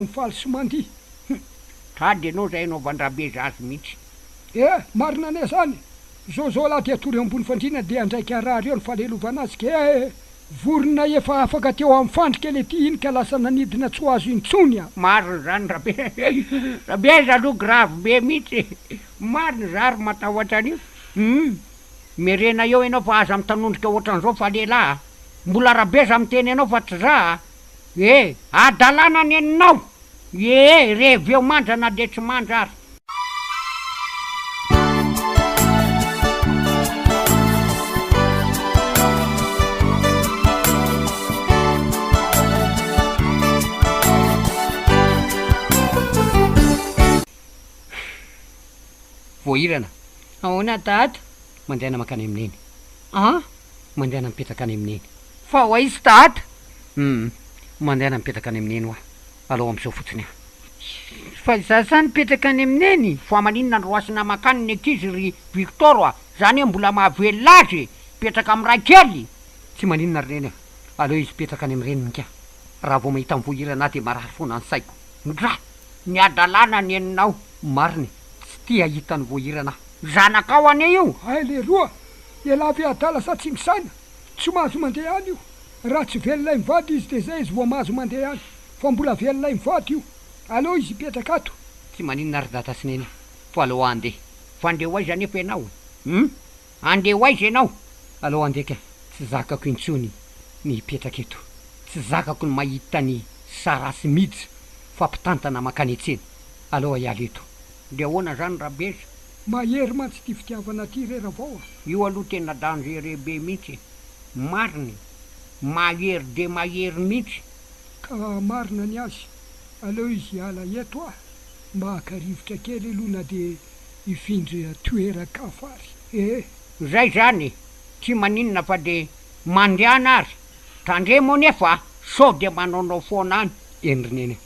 Faly sy mandihy hum. Tady enao zay enao vandrabe zazy mintsy. Eh! Marina anie zany! Jojo lahy dia tory ambony fandriana dia andraiky araha reo ny falelovana azy kea eh! Vorona efa afaka teo amin'ny fandrika le ty iny ka lasa nanidina tsy ho azo intsony a! Marina zany rabe rabe aza aloha grave be mintsy marina za ry matahotra an'io hum merena eo enao fa aza mitanondrika otran'zao fa lehilahy a! Mbola rabe za miteny anao fa tsy za a! E! Adalana ny aninao! Ee! Rehev eo mandra na dia tsy mandra ary. Sh! Voahirana, Ahoana Dada? Mandeha na mankany amin'i Neny. An! Mandeha na mipetraka any amin'i Neny. Fa ho aiza dada? Humm, mandehana mipetraka any amin'ny neny hoa, alao amin'izao fotsiny an! Fa izaho izany mipetraka any amin'ny neny? Fa maninona no roasina mankany ny ankizy ry Victor a! Za anie mbola mahavelona azy e! Mipetraka amin'ny ray kely! Tsy maninona ry neny a! Aleo izy hipetraka any amin'ny reniny ka! Raha vao mahita mivohirana ahy dia marary foana ny saiko! Ndra! Ny hadalana ny eninao! Marina e! Tsy tia hahita nivohirana aho! Zanakao anie io! Hay leroa! Ialahy be adala sa tsy misaina! Tsy mahazo mandeha any io. Raha tsy velona i mivady izy dia izay izy vao mahazo mandeha any. Fa mbola velona i mivady io. Aleo izy hipetraka ato. Tsy maninona ary dada sy neny fa aleo aho andeha. Fa andeha ho aiza anefa ianao e? Hum? Andeha ho aiza ianao? Aleo andeha ka. Tsy zakako intsony ny hipetraka eto. Tsy zakako ny mahita an'i Sarah sy Mij fa mpitantana mankany an-tsena. Aleo hiala eto. De ahoana zany rabezy? Mahery mantsy ty fitiavana ty re ravao a! Io aloha tena dangereux be mintsy e! Marina e! Mahery dia mahery mintsy! Ka marina ny azy, aleo izy hiala eto a! Maka rivotra kely aloha na dia hifindra toeran-kafa ary e! Zay zany e! Tsy maninona fa dia mandehana ary! Tandremo anefa a! Sao dia manaonao foana any! Endry neny a!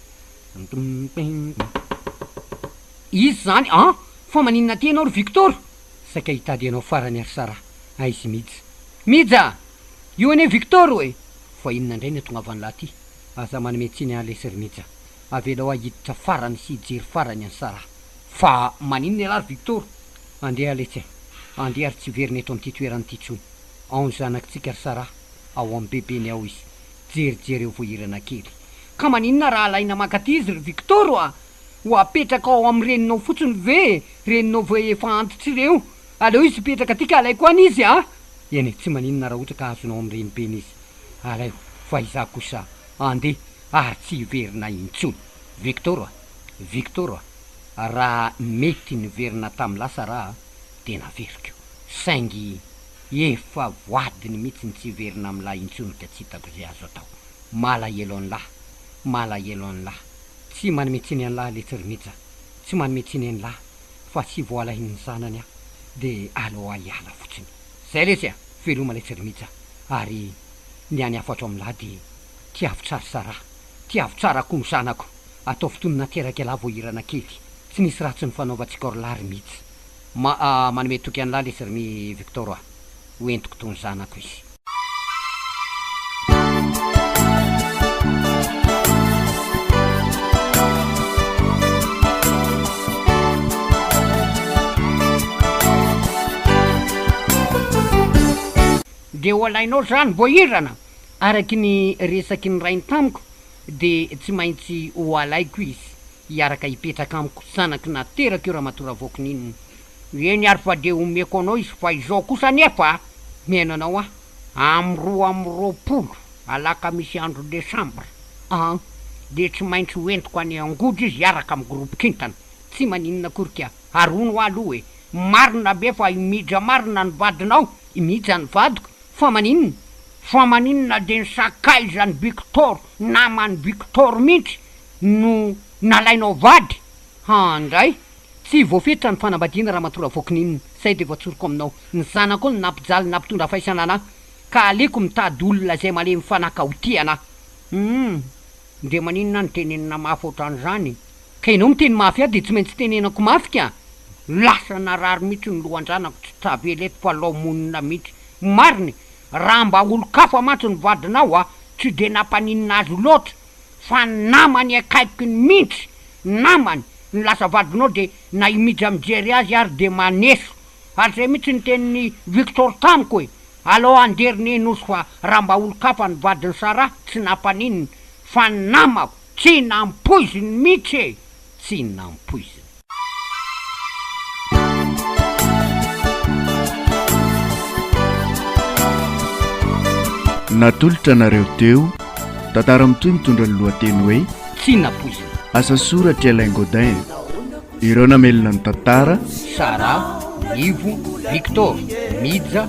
Izy zany an! Fa maninona aty ianao ry Victor? Saika hitady anao farany ary Sara. Aiz i Mija. Mija! Io anie Victor ô e! Fa inona indray ny atongavan'lah aty? Aza manome tsiny an lesy ry Mija. Avelao ahy hiditra farany sy hijery farany an'i Sara. Fa maninona ialahy ry Victor? Andeha letsy a! Andeha ary tsy hiverina eto amin'ity toerana ity intsony. Ao ny zanakitsika ry Sara. Ao amin'ny bebeny ao izy. Jerijereo voahirana kely. Ka maninona raha alaina mankaty izy ry Victor a! Ho apetraka ao amin'ny reninao fotsiny ve e! Reninao ve efa antitra ireo! Aleo izy hipetraka aty ka alaiko any izy a! Eny e, tsy maninona raha ohatra ka azonao amin'ny renibeny izy. Alaivo fa izaho kosa handeha ary tsy hiverina intsony. Victor a! Victor a! Raha mety niverina tamin'ny lasa raha a! dia naveriko. Saingy efa voadiny mihitsy ny tsy hiverina amin'ilay intsony ka tsy hitako izay azo atao. Malahelo anlah, malahelo anlah, tsy manome tsiny anlah letsy ry Mija, tsy manome tsiny anlah fa tsy voalahin'ny zanany aho de aleoa hiala fotsiny zay letsy a! Veloma letsy ry Mija ary ny any afatrao aminlah de tiavo tsara Sarah, tiavo tsara koa ny zanako, ataovy toy ny nateraka ialahy vao hirana kely, tsy nisy ratsy nifanaovantsika orlah ry Mija, ma a manome toky anlah letsy ry Mi Victor a! ho entiko toy ny zanako izy. Dia ho alainao izany voahirana? Araka ny resaky ny rainy tamiko, dia tsy maintsy ho alaiko izy hiaraka hipetraka amiko, zanako naterako io ramatoa Ravoakoninina, Eny ary fa dia omeko anao izy fa izao kosa anefa a! Omena anao aho amin'ny roa amby roapolo alakamisy andro desambra an! Dia tsy maintsy ho entiko any Angojo izy hiaraka amin'ny groupe kintana. Tsy maninona akory ka! Ary hono hoa aloha e! Marina ve fa i Mija marina ny vadinao? I Mija ny vadiko? Fa maninona? Fa maninona dia ny sakaizan'i Biktor, naman'i Biktor mihitsy no nalainao vady? An! indray! Tsy voafetra ny fanambadiana ramatoa Ravoakininina, zay de voatsoriko aminao, ny zanako no nampijaly nampitondra faisana anah, ka aleko mitady olona zay malemy fanaka ho tia anah. Humm de maninona no tenenina mafy otran'izany e? Ka enao miteny mafy ahy de tsy maintsy tenenako mafy ka! Lasa narary mihitsy ny lohan-janako tsy tavela eto fa lao monina mihitsy. Marina e! Raha mba olon-kafa mantsy ny vadinao a! tsy de nampaninona azy loatra. fa ny namany akaiky ny mintsy namany no lasa vadinao de na i Mija mijery azy ary de maneso ary zay mintsy ny tenin'i Victor tamiko e alao andery ny nosy fa raha mba olon-kafa ny vadin'i Sarah tsy nampaninona fa ny namako tsy nampoiziny mintsy e tsy nampoiziny. Natolotra anareo teo tantara mitohy mitondra ny lohateny hoe tsy napoizina. Asa soratry Alain Godin. Ireo namelona ny tantara Sara, Nivo, Victor, Mija,